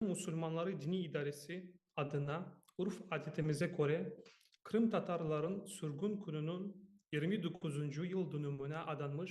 Qırım musulmanları diniy idaresi adına urf-adetimize köre, qırımtatarların sürgün kününiñ yirmi doquzuncu yıl dönümine adanmış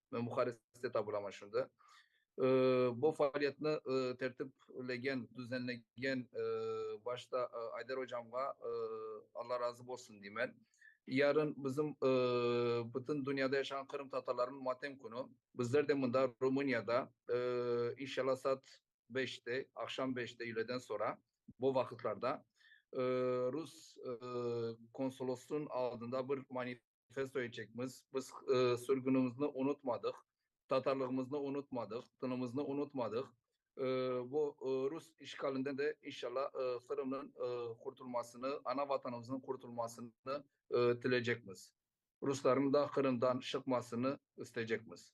ve Muharriste tabura maşundı. Bu faaliyetni tertiplegen, düzenlegen başta Ayder ocamğa Alla razı bolsun deymen. Yarın bizim bütün dünyada yaşağan qırımtatarlarnıñ matem künü. Bizler de mında Rumuniyada inşalla saat beşte, aqşam beşte üyleden sonra bu vaqıtlarda rus konsolosınıñ aldında bir manifest. Qız toyecekmiz. Biz sürgünimizni unutmadıq, tatarlığımıznı unutmadıq, tınımıznı unutmadıq. Bu rus işğalinden de inşalla Qırımnıñ qurtulmasını, ana Vatanımıznıñ qurtulmasını tileycekmiz. Ruslarnıñ da Qırımdan şıqmasını isteycekmiz.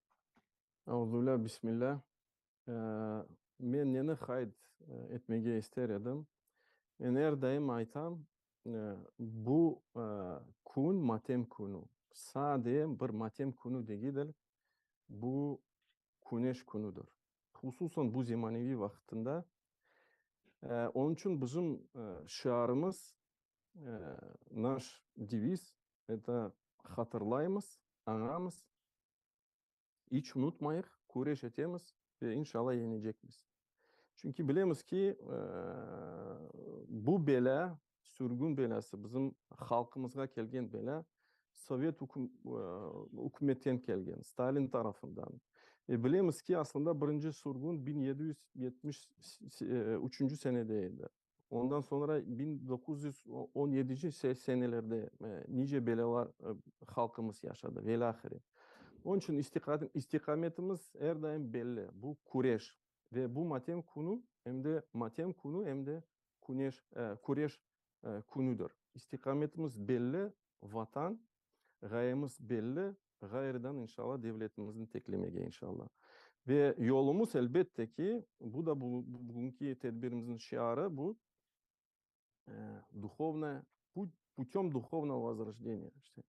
Auzubillâh, Bismillâh. Men neni qayd etmege ister edim, men er daim aytam, bu kün matem künü, sade bir matem künü degidil, bu küneş künüdir, hususan bu zemaneviy vaqıtında. Onıñ içün bizim şiarımız, naş deviz, eto, Hatırlaymız, añamız, İç unutmayıq, küreş etemiz ve inşalla yeñecekmiz. Çünki bilemiz ki, bu belâ, sürgün belâsı, bizim halqımızğa kelgen belâ sovet ükümetten kelgen, Stalin tarafından. Ve bilemiz ki, aslında birinci sürgün biñ yedi yüz yetmiş üçünci senede edi. Ondan soñra biñ doquz yüz on yedinci senelerde nice belâlar halqımız yaşadı, velâhire. Onıñ içün istiqametimiz er daim belli, bu küreş. Ve bu matem künü, em de matem künü, em de küreş künüdir. İstiqametimiz belli, Vatan, ğayemiz belli, ğayrıdan inşalla devletimizni teklemege inşalla. Ve yolumız elbette ki, bu da bugünki tedbirimizniñ şiarı bu, duhovnaya put, putem duhovnogo vozrojdeniye işte.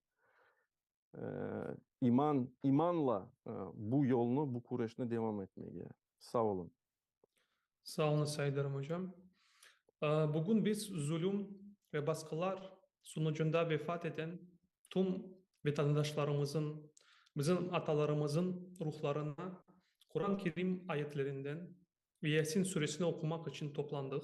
İman, imanla bu yolnı, bu küreşni devam etmege. Sağ olun. Sağ olunız, Saydarım ocam. Bugün biz zulüm ve basqılar sunucunda vefat eten tüm vetandaşlarımızın, bizim atalarımızın ruhlarına Quran-Kerim ayetlerinden ve Yasin Suresini oqumaq içün toplandıq.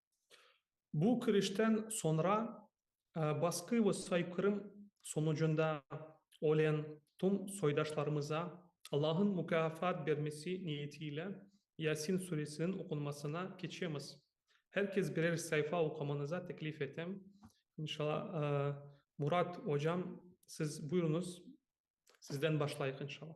Bu kirişten soñra basqı ve soykırım sonucunda ölen tüm soydaşlarımıza Allahın mukâfat bermesi niyetiyle Yasin Suresiniñ oqunmasına keçemiz. Her kes birer sayfa oqumanıza teklif etem. İnşala, Murat ocam siz buyuruñız, sizden başlayıq inşala.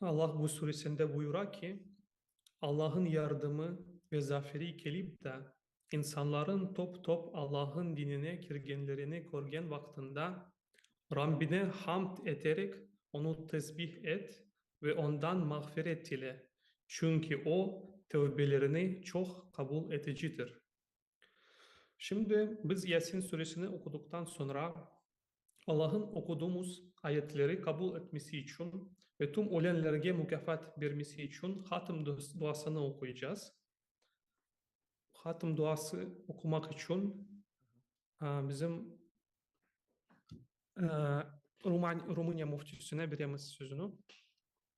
Allah bu suresinde buyura ki, Allah'ın yardımı ve zaferi kelip de, insanların top-top Allah'ın dinine kirgenlerini körgen vaqtında, Rabbine hamd eterek Onu tesbih et ve Ondan mağfiret dile, çünki O tevbelerini çoq qabul eticidir. Şimdi biz Yasin Suresini oquduqtan soñra, Allah'ın oquduğımız ayetleri qabul etmesi içün ve tüm ölenlerge mukâfat bermesi içün Hatm duasını oquycağız. Hatm duası oqumaq içün bizim Rumıniya Müftisine beremiz sözüni.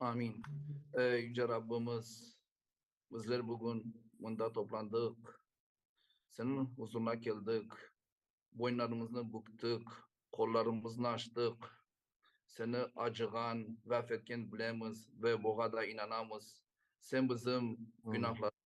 Amin. Ey Yüce Rabbimiz, bizler bugün mında toplandıq, Seniñ huzurına keldik, boynlarımıznı büktik, qollarımıznı açtıq, Seni acığan ve afetken bilemiz ve buğa da inanamız. Sen bizim günahlarımızı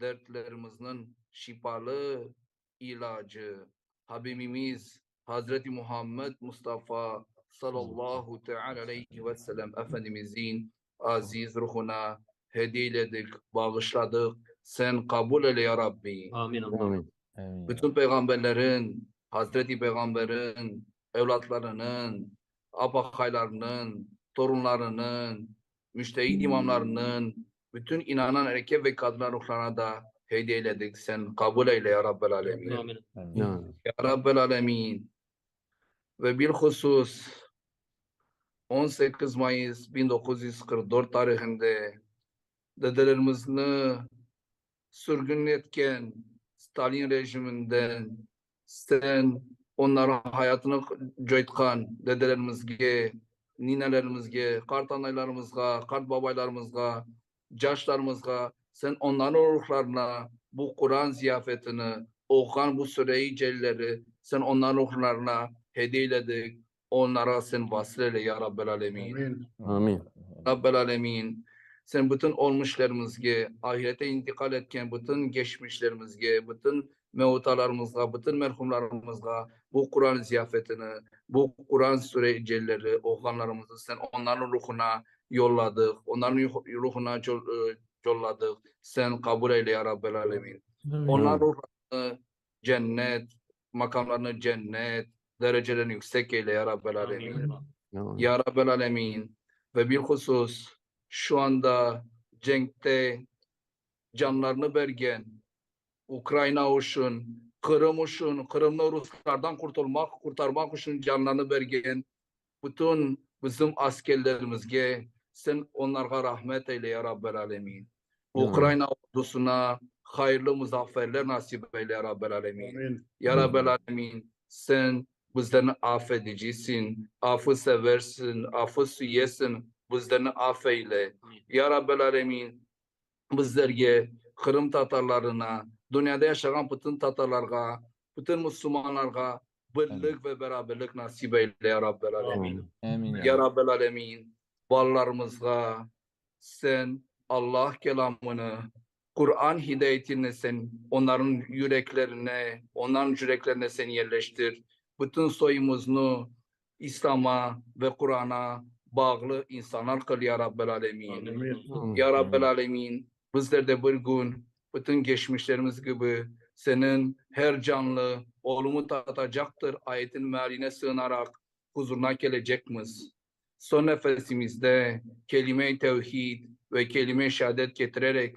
dertlerimizniñ şifalı ilacı Habibimiz Hazreti Muhammed Mustafa sallallahu teâlâ aleyhi ve selem Efendimizniñ aziz ruhuna hediyeledik, bağışladıq, Sen qabul eyle, ya Rabbi! Amin, Allahım! Bütün peyğamberleriñ, Hazreti Peyğamberiñ evlatlarınıñ, apaqaylarınıñ, torunlarınıñ, Müçtehid imamlarnıñ, bütün inanan erkek ve qadınlar ruhlarına da hediye eyledik. Sen qabul eyle, ya Rabbel Âlemin. Ya Rabbel Âlemin. Ve bilhusus, on sekiz mayıs biñ doquz yüz qırq dört tarihinde dedelerimizni sürgün etken Stalin rejiminden Sen onların hayatını coytqan dedelerimizge, ninelerimizge, qartanaylarımızğa, qartbabaylarımızğa, caşlarımızğa, sen onların ruhlarına bu Quran ziyafetini, oquğan bu Sure-i Celilleri sen onların ruhlarına hediyeledik, onlara Sen vasıl eyle, ya Rabbel âlemin. Amin. Rabbel âlemin, Sen bütün ölmüşlerimizge, ahirete intiqal etken bütün geçmişlerimizge, bütün mevtalarımızğa, bütün merhumlarımızğa bu Quran ziyafetini, bu Quran Sure-i Celleri oğuğanlarımızı Sen onların ruhuna yolladıq, onların ruhuna yolladıq, Sen qabul eyle, ya Rabbel âlemin. Onların ruhlarını cennet, maqamlarını cennet, derecelerini yüksek eyle ya Rabbel âlemin. Ya Rabbel âlemin. Ve bilhusus şu anda cenkte canlarını bergen Ukrayına uçun, Qırım uçun, Qırımnı Ruslardan qurtulmaq, qurtarmaq uçun canlarını bergen Bütün bizim askerlerimizge Sen onlarğa rahmet eyle, ya Rabbel Alemin. Ukraina ordusına hayırlı muzafferler nasip eyle, ya Rabbel Alemin. Ya Rabbel Alemin, Sen bizlerni af edicisin, afı seversin, afı süyesin, bizlerni af eyle. Ya Rabbel Alemin, Bizlerge, Qırım tatarlarına, dünyada yaşağan bütün tatarlarğa, bütün musulmanlarğa birlik ve beraberlik nasip eyle, ya Rabbel Alemin. Amin. Ya Rabbel Alemin, balalarımızğa Sen Allah Kelamını, Quran hidayetini Sen onların yüreklerine, onların yüreklerine Sen yerleştir. Bütün soyumuznı İslama ve Qurana bağlı insanlar qıl ya Rabbel Alemin. Ya Rabbel Alemin, bizler de bir gün bütün geçmişlerimiz kibi Seniñ her canlı ölümi tatacaqtır ayetiniñ mealine sığınaraq huzurına kelecekmiz. Son nefesimizde kelime-i tevhid ve kelime-i şehadet ketirerek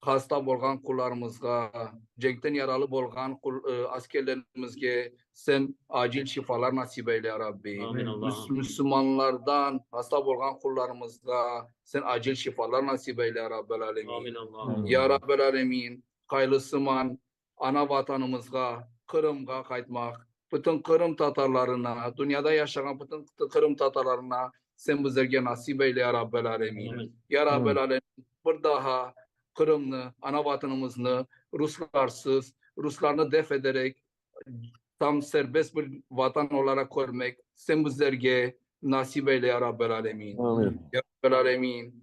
Hasta bolğan qullarımızğa, cenkten yaralı bolğan askerlerimizge Sen acil şifalar nasip eyle, ya Rabbi. Amin, Allahım. Müslümanlardan hasta bolğan qullarımızğa Sen acil şifalar nasip eyle, ya Rabbel âlemin. Amin, Allahım. Ya Rabbel âlemin, qaylısıman ana Vatanımızğa, Qırımğa qaytmaq, bütün Qırım tatarlarına, dünyada yaşağan bütün Qırım tatarlarına Sen bizlerge nasip eyle, ya Rabbel Alemin. Ya Rabbel Alemin, bir daha Qırımnı, ana Vatanımıznı Ruslarsız, Ruslarnı def ederek tam serbest bir Vatan olaraq körmek Sen bizlerge nasip eyle, ya Rabbel Alemin. Ya Rabbel Alemin,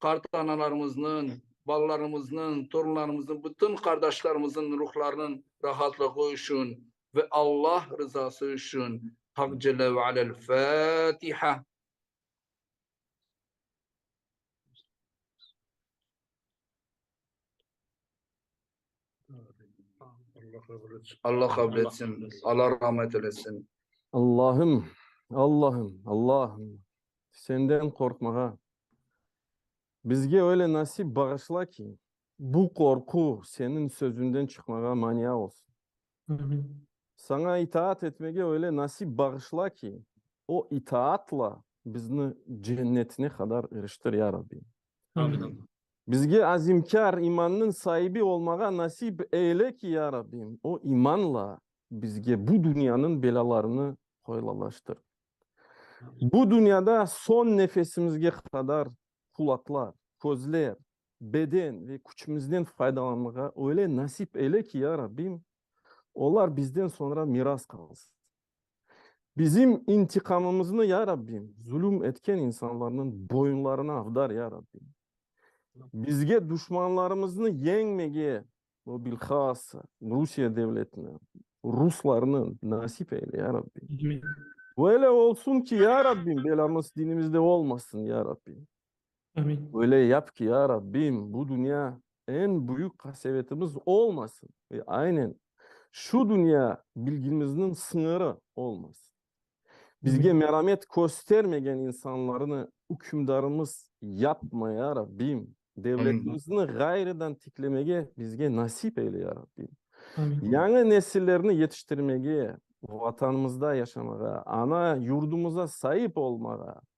qartanalarımıznıñ, balalarımıznıñ, torunlarımıznıñ, bütün qardaşlarımıznıñ ruhlarınıñ rahatlığı içün ve Alla rızası içün. Haq Celle ve Alâ El-Fâtiha. Alla qabul etsin. Alla rahmet eylesin. Allahım, Allahım, Allahım, Senden qorqmağa bizge öyle nasip bağışla ki, bu qorqu Seniñ sözüñden çıqmağa mania olsun. Saña itaat etmege öyle nasip bağışla ki, o itaatla bizni cennetine qadar iriştir, ya Rabbi. Amin. Bizge azimkâr imannıñ saibi olmağa nasip eyle ki, ya Rabbim, o imanla bizge bu dünyanıñ belâlarını qoylalaştır. Bu dünyada soñ nefesimizge qadar qulaqlar, közler, beden ve küçümizden faydalanmağa öyle nasip eyle ki, ya Rabbim, olar bizden soñra miras qalsın. Bizim intiqamımıznı, ya Rabbim, zulüm etken insanlarnıñ boyunlarına avdar, ya Rabbim. Bizge duşmanlarımıznı yeñmege ve bilhassa Rusiye devletine, ruslarnı nasip eyle, ya Rabbim. Böyle olsun ki, ya Rabbim, belamız dinimizde olmasın, ya Rabbim. Amin. Öyle yap ki, ya Rabbim, bu dünya eñ büyük qasevetimiz olmasın ve aynen şu dünya bilgimizniñ sıñırı olmasın. Bizge meramet köstermegen insanlarnı ükümdarımız yapma, ya Rabbim. Devletimizni ğayrıdan tiklemege bizge nasip eyle, ya Rabbim. Amin. Yañı nesillerni yetiştirmege, Vatanımızda yaşamağa, ana yurdumuza saip olmağa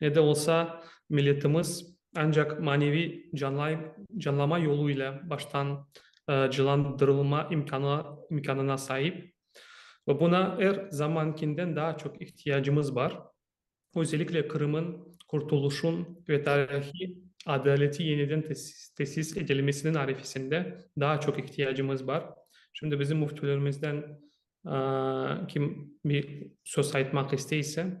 Ne de olsa, milletimiz ancaq maneviy canlama yolu ile baştan cılandırılma imkânına saip. Ve buna er zamankinden daa çoq ihtiyacımız bar. Özellikle Qırım'ın qurtuluşun ve tarihiy adaleti yeniden tesis edilmesiniñ arefesinde daa çoq ihtiyacımız bar. Şimdi bizim müftülerimizden kim bir söz aytmaq isteyse.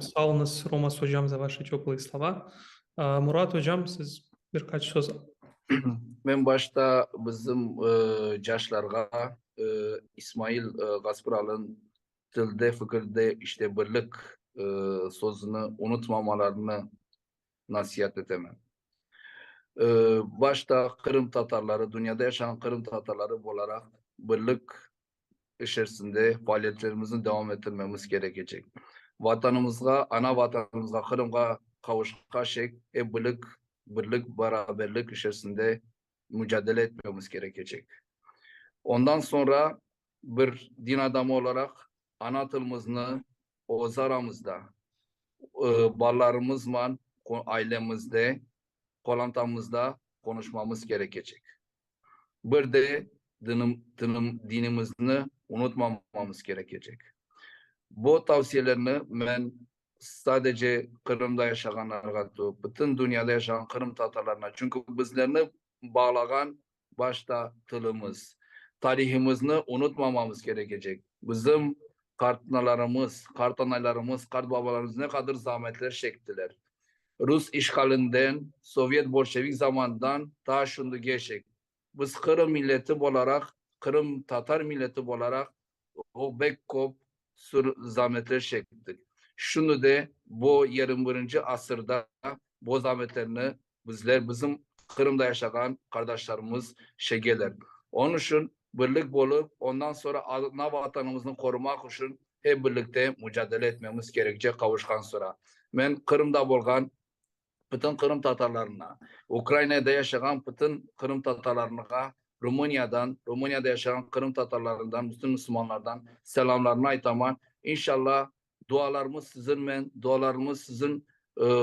Sağ olunız, Romas ocam, za vaşi teplıye slova. Murat ocam, siz bir qaç söz. Men başta bizim caşlarğa İsmail Gaspıralın tilde, fikirde, işte birlik sözüni unutmamalarını nasiyat etemen. Başta Qırım Tatarları, dünyada yaşağan Qırım Tatarları olaraq birlik içerisinde faaliyetlerimizni devam ettirmemiz kerekecek. Vatanımızğa, ana Vatanımızğa, Qırımğa qavuşqaçek ep birlik, birlik, beraberlik içerisinde mücadele etmemiz kerekecek. Ondan soñra bir din adamı olaraq ana tilimizni öz aramızda, balalarımızman ailemizde, qolantamızda qonuşmamız kerekecek. Bir de dinimizni unutmamamız kerekecek. Bu tavsiyelerni men sadece Qırımda yaşağanlarğa, bütün dünyada yaşağan qırımtatarlarına, çünki bizlerni bağlağan başta tilimiz. Tarihimizni unutmamamız kerekecek. Bizim qartanalarımız, qartanaylarımız, qartbabalarımız ne qadır zahmetler çektiler. Rus işğalinden, sovyet-bolşevik zamanından ta şundigeçek biz qırım milleti bolaraq, qırımtatar milleti bolaraq O, bek kop sür zametler şektik. Şunı de, bo yirmi birinci asırda bo zametlerni bizler, bizim Qırımda yaşağan qardaşlarımız şegeler. Onıñ şün birlik bolıp, ondan sonra ana Vatanımıznı qorumaq üşün hep birlikte mücadele etmemiz kerekçe qavuşqan sıra. Men Qırımda bolğan pıtın qırımtatarlarına, Ukrainada yaşağan pıtın qırımtatarlarnığa Rumıniyadan, Rumıniyada yaşağan qırımtatarlarından, bütün müslümanlardan selamlarımnı aytaman. İnşallah dualarımız sizinmen, dualarımız sizin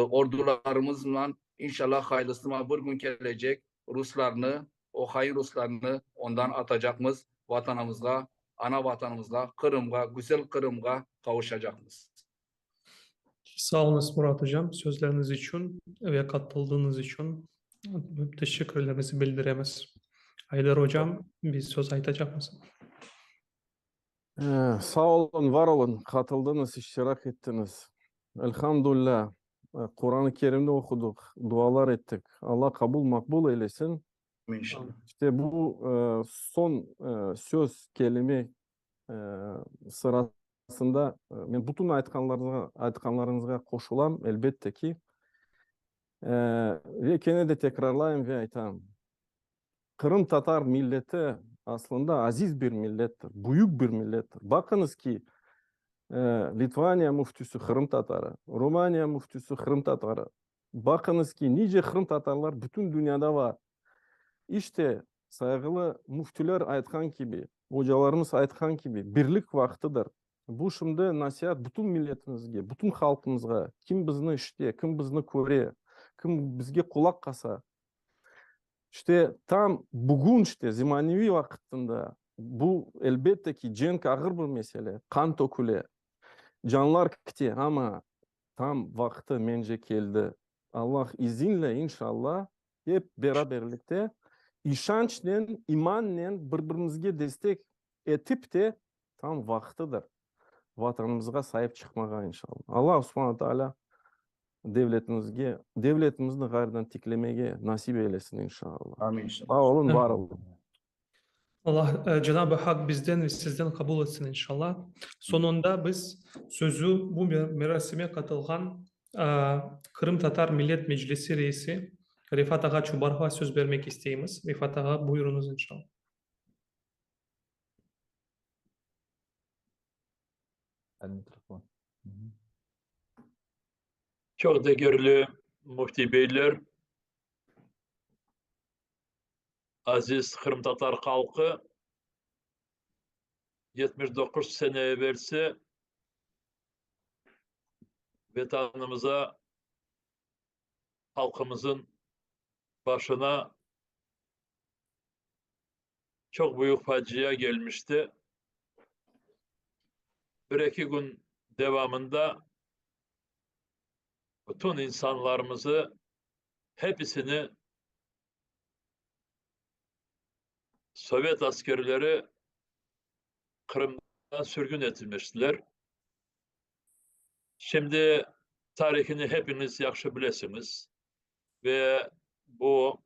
ordularımıznan, inşallah hayırlısıman bir gün kelecek, ruslarnı, o hain ruslarnı ondan atacaqmız, Vatanımızğa, ana Vatanımızğa, Qırımğa, güzel Qırımğa qavuşacaqmız. Sağ olunız, Murat ocam, sözleriniz içün ve qatıldığınız içün teşekkürlerimizi bildiremiz. Aydar ocam, bir söz aytacaqmız? Sağ olun, var olun, qatıldınız, iştirak ettiniz. Elhamdulillah, Quranı Kerimni oqudıq, dualar ettik. Alla qabul, maqbul eylesin. İşte bu son söz, kelime, sırasında men bütün aytqanlarıñızğa qoşulam, elbette ki. Ve kene de tekrarlayım ve aytam, qırımtatar milleti aslında aziz bir millettir, büyük bir millettir. Baqıñız ki, Litvaniya müftisi qırımtatarı, Rumaniya müftisi qırımtatarı. Baqıñız ki, nice qırımtatarlar bütün dünyada bar. İşte, Sayğılı müftüler aytqan kibi, ocalarımız aytqan kibi, birlik vaqtıdır. Bu şimdi nasiat bütün milletimizge, bütün halqımızğa, kim bizni işite, kim bizni köre, kim bizge qulaq qasa. İşte tam bugün işte zemaneviy vaqıtında bu elbette ki, cenk ağır bir mesele, qan töküle, canlar kite, amma tam vaqtı mence keldi. Allah izinle, inşallah, Ep beraberlikte, işançnen, imannen bir-birimizge destek etip de, tam vaqtıdır Vatanımızğa saip çıqmağa, inşallah. Alla Subhana Taalâ devletimizge, devletimizni ğayrıdan tiklemege nasip eylesin, inşallah. Sağ olun, var olun. Allah Cenab-ı Hak bizden ve sizden qabul etsin inşallah. Soñunda biz sözü bu merasime qatılğan Qırımtatar Millet Meclisi reisi Refat ağa Çubarovğa söz bermek isteymiz. Refat ağa, buyurıñız inşallah. Çoq degerli müfti beyler, Aziz qırımtatar halqı, yetmiş doquz sene evelsi Vetanımıza, halqımızın başına çoq büyük facia gelmişti. Bir eki kün devamında bütün insanlarımızı, hepisini Sovet askerleri Qırımda sürgün etilmiştiler. Şimdi tarihini hepiñiz yahşı bilesiñiz ve bu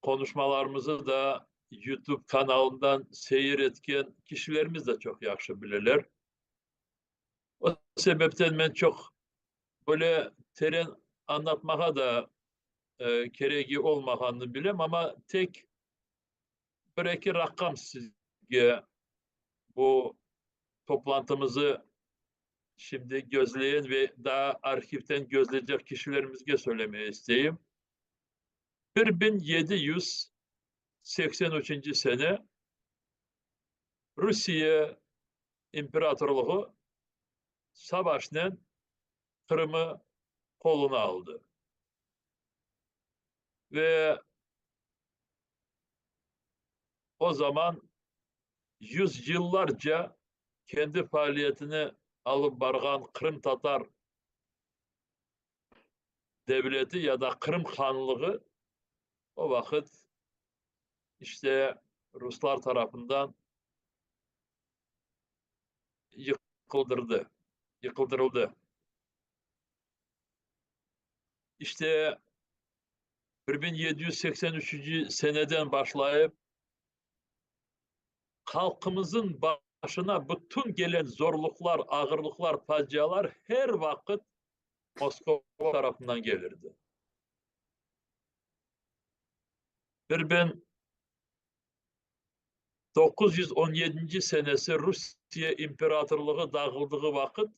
qonuşmalarımızı da Yutub kanalından seyir etken kişilerimiz de çoq yahşı bileler. O sebepten men çoq böyle teren añlatmağa da keregi olmağanını bilem, amma tek bir-eki raqam sizge bu toplantımızı şimdi gözleyen ve daa arhivden gözleycek kişilerimizge söylemeye isteyim. Bir biñ yedi yüz seksen üçünci sene Rusiye imperatorluğı savaşnen Qırımı qoluna aldı ve o zaman yüzyıllarca kendi faaliyetini alıp barğan qırımtatar devleti ya da Qırım Hanlığı o vaqıt işte ruslar tarafından yıqıldırdı, yıqıldırıldı. İşte bir biñ yedi yüz seksen üçünci seneden başlayıp halqımızın başına bütün gelen zorluqlar, ağırlıqlar, facialar her vaqıt Moskova tarafından gelirdi. Bir biñ doquz yüz on yedinci senesi Rusiye imperatorlığı dağıldığı vaqıt,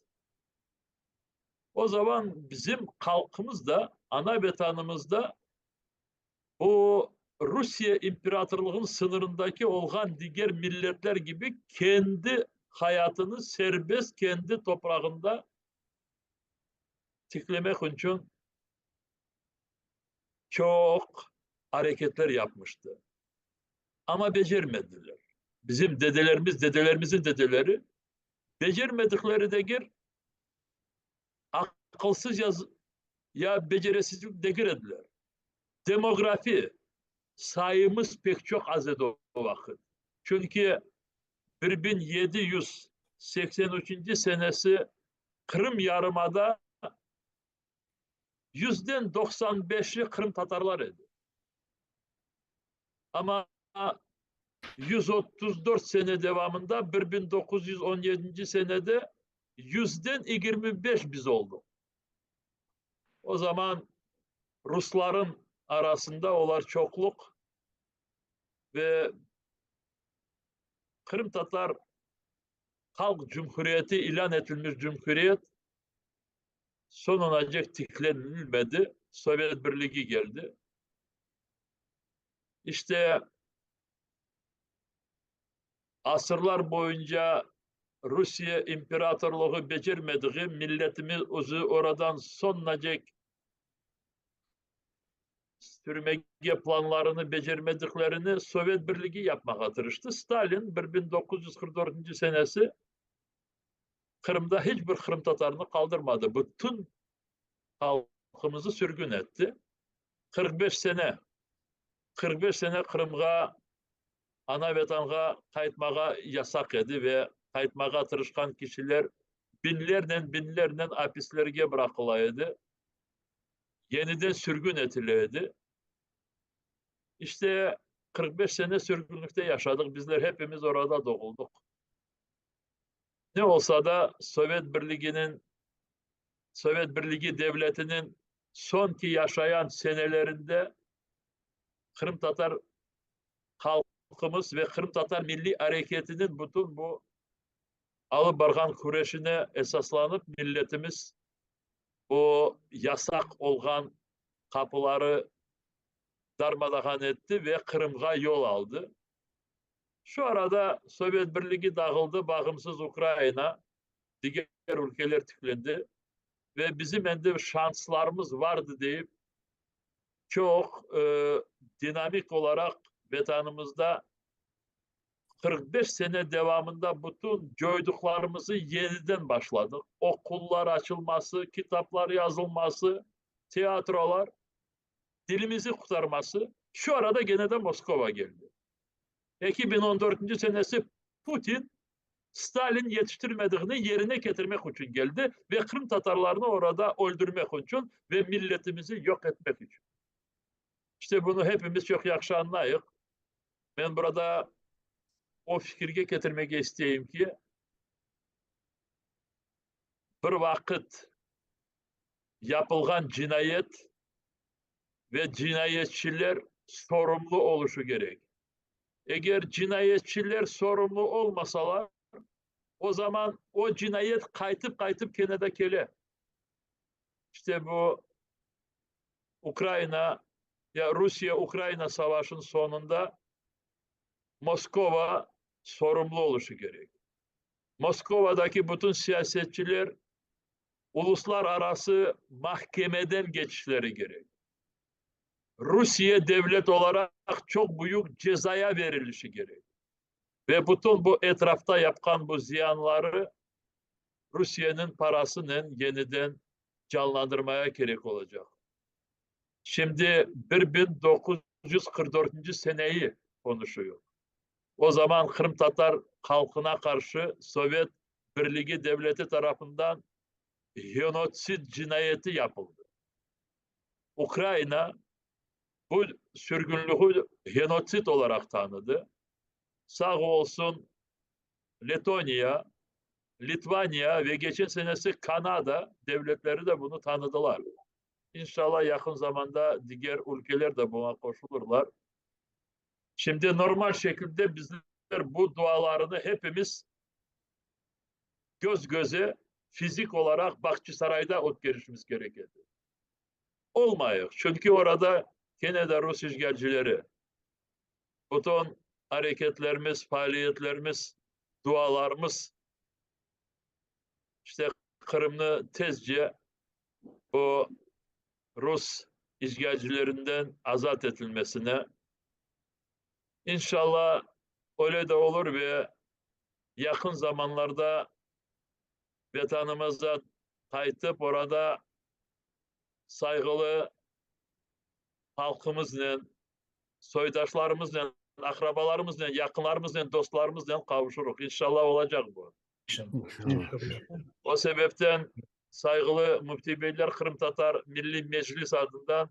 o zaman bizim halqımız da, ana Vetanımız da bu Rusiye imperatorlığınıñ sıñırındaki olğan diger milletler kibi kendi hayatını serbest, kendi toprağında tiklemek içün çoq areketler yapmıştı. Amma becermediler. Bizim dedelerimiz, dedelerimizin dedeleri becermedikleri degil, aqılsız ya ya becerisizlik degil ediler. Demografi sayımız pek çoq az edi o vaqıt. Çünki bir biñ yedi yüz seksen üçünci senesi Qırım yarımada yüzden doqsan beşi qırımtatarlar edi. Amma yüz otuz dört sene devamında bir biñ doquz yüz on yedinci senede yüzden yigirmi beş biz oldıq. O zaman ruslarnıñ arasında olar çoqluq. ve Qırımtatar Halq Cumhuriyeti ilân etilmiş cumhuriyet sonunacek tiklenilmedi, Sovet Birligi geldi. İşte asırlar boyunca Rusiye imperatorlığı becermediği milletimiz özü oradan sonunacek sürmege planlarını becermediklerini Sovet Birligi yapmağa tırıştı. Stalin bir biñ doquz yüz qırq dörtünci senesi Qırımda hiç bir qırımtatarnı qaldırmadı. Bütün halqımızı sürgün etti. Qırq beş sene, qırq beş sene Qırımğa Ana Vatanğa qaytmağa yasaq edi ve qaytmağa tırışqan kişiler binlernen, binlernen apislerge bıraqıla edi, yeniden sürgün etile edi. İşte, qırq beş sene sürgünlikte yaşadıq, bizler hepimiz orada doğuldıq. Ne olsa da, Sovet Birliginiñ, Sovet Birligi devletiniñ son ki yaşayan senelerinde qırımtatar halqımız ve qırımtatar milliy areketiniñ bütün bu alıp barğan küreşine esaslanıp, milletimiz o yasaq olğan qapıları darmadağan etti ve Qırımğa yol aldı. Şu arada Sovet Birligi dağıldı, bağımsız Ukrayına, diger ülkeler tiklendi ve bizim endi şanslarımız vardı deyip, Çoq dinamik olaraq Vetanımızda qırq beş sene devamında bütün coyduqlarımızı yeniden başladıq, oqullar açılması, kitaplar yazılması, tiyatrolar, dilimizi qurtarması, şu arada gene de Moskova keldi. Eki biñ on dörtünci senesi Putin Stalin yetiştirmediğini yerine ketirmek içün keldi ve qırımtatarlarnı orada öldürmek içün ve milletimizi yok etmek içün. İşte bunı hepimiz çoq yahşı añlayıq. Men burada o fikirge ketirmege isteyim ki, bir vaqıt yapılğan cinayet ve cinayetçiler sorumlu oluşu kerek. Eger cinayetçiler sorumlu olmasalar, o zaman o cinayet qaytıp-qaytıp kene de kele. İşte bu Ukrayina ya Rusiye-Ukrayina savaşın sonunda Moskova sorumlu oluşu kerek. Moskovadaki bütün siyasetçiler uluslararası mahkemeden keçişleri kerek. Rusiye devlet olaraq çoq büyük cezaya berilişi kerek. Ve bütün bu etrafta yapqan bu ziyanları Rusiyeniñ parasınen yeniden canlandırmaya kerek olacaq. Şimdi bir biñ doquz yüz qırq dörtünci seneyi qonuşuyıq. O zaman qırımtatar halqına qarşı sovet Birligi devleti tarafından genotsid cinayeti yapıldı. Ukraina bu sürgünliği genotsid olaraq tanıdı. Sağ olsun Letoniya, Litvaniya ve geçen senesi Kanada devletleri de bunı tanıdılar. İnşallah yaqın zamanda diger ülkeler de buna qoşulırlar. Şimdi normal şekilde bizler bu dualarını hepimiz köz-köze fizik olaraq Bağçasarayda ötkerişimiz kerek edi. Olmayıq, çünki orada kene de rus işğalcileri. Bütün areketlerimiz, faaliyetlerimiz, dualarımız işte Qırımnı tezce bu rus işğalcilerinden azat etilmesine, İnşalla öyle de olur ve yaqın zamanlarda Vetanımıza qaytıp orada sayğılı halqımıznen, soydaşlarımıznen, aqrabalarımıznen, yaqınlarımıznen, dostlarımıznen qavuşurıq. İnşalla olacaq bu. O sebepten sayğılı Müfti beyler Qırımtatar Milliy Meclis adından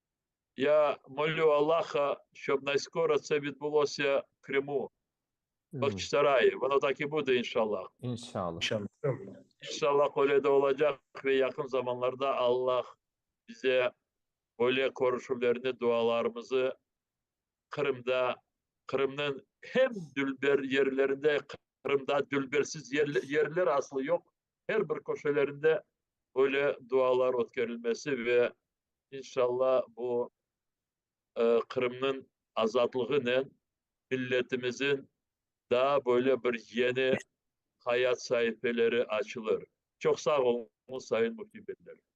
Ya molü Allaha, şob nayskoro tse vidbulosya Krımu, Bahçısaray, vono tak i bude, inşallah. İnşallah. İnşallah öyle de olacaq ve yaqın zamanlarda Allah bize böyle körüşüvlerni, dualarımızı Qırımda, Qırımnıñ hem dülber yerlerinde, Qırımda dülbersiz yerler aslı yoq, her bir köşelerinde böyle dualar ötkerilmesi ve inşalla bu Qırımnıñ azatlığınen milletimizin daa böyle bir yeni hayat saifeleri açılır. Çoq sağ olunız, Sayın Müfti Beyler.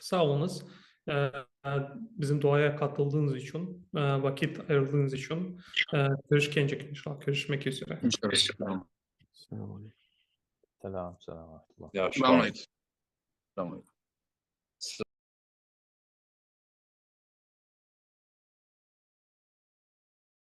Sağ oluñız, bizim duaya qatıldığıñız içün, vaqit ayırdığıñız içün. Körüşkencik inşallah, körüşmek üzere. İnşallah. Selam, selam.